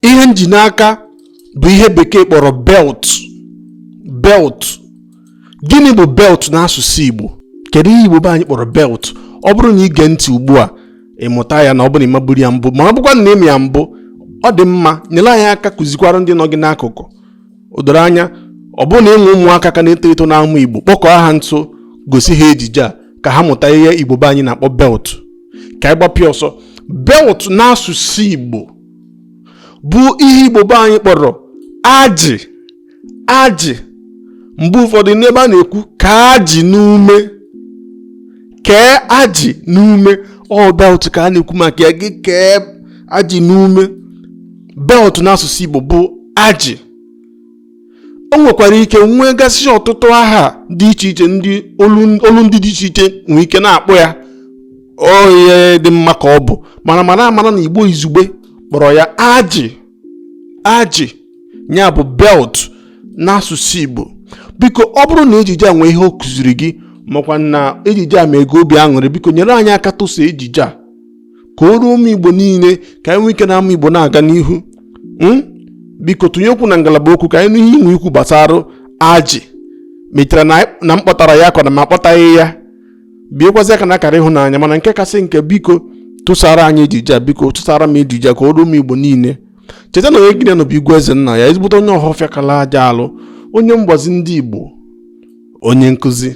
ihe m ji n'aka bụ ihe bekee kpọrọ belt belt gịnị bụ belt n'asụsụ Igbo kedu ihe Igbo be anyị kpọrọ belt ọ bụrụ na i gee ntị ugbu a ị mụta ya na ọ bụrụ na ị maburu ya mbụ ma ọ bụkwa na ị ma ya mbụ ọ dị mma nyere anyị aka kụzikwara ndị nọ gị n'akụkụ o doro anya ọ bụrụ na i nwee ụmụaka ka na-eto eto na-amụ Igbo kpọkọọ ha nso gosi ha ejije a ka ha mụta ihe Igbo be anyị na-akpọ belt ka anyị gbapịa ọsọ belt n'asụsụ Igbo bụ ihe igbo be anyị kpọrọ ajị ajị mgbe ụfọdụ n'ebe a na-ekwu kee ajị n'ume kee ajị n'ume ọ belt ka a na-ekwu maka ya gị kee ajị n'ume belt n'asụsụ igbo bụ ajị o nwekwara ike nwegasị ọtụtụ aha dị iche iche ndị olu ndị dị iche iche nwee ike na-akpọ ya ọ ihe dị mma ka ọ bụ mana mara amara na igbo izugbe kpọrọ ya ajị ajị ya bụ belt n'asụsụ igbo biko ọ bụrụ na ejije a nwee ihe ọ kụziri gị makwa na ejije a mee gị obi aṅụrị biko nyere anyị aka tụsa ejije a ka o ruo ụmụ igbo niile ka anyị nwee ike na-amụ igbo na-aga n'ihu hmm? biko tụnye okwu na ngalaba okwu ka anyị nụ ihe i nwe ikwu gbasara ajị ma i chere na m kpọtara ya ka ọ na m akpọtaghị ya biekwazi aka n'akara ịhụnanya mana nke kasị nke biko tụsara anyị ejije a biko tụsara m ejije a ka o ruo ụmụ igbo niile cheta na onye gị na ya nọ bụ igwe eze nna ya ezigbote onye ọhọfịa kala aja alụ onye mgbazi ndị igbo onye nkụzi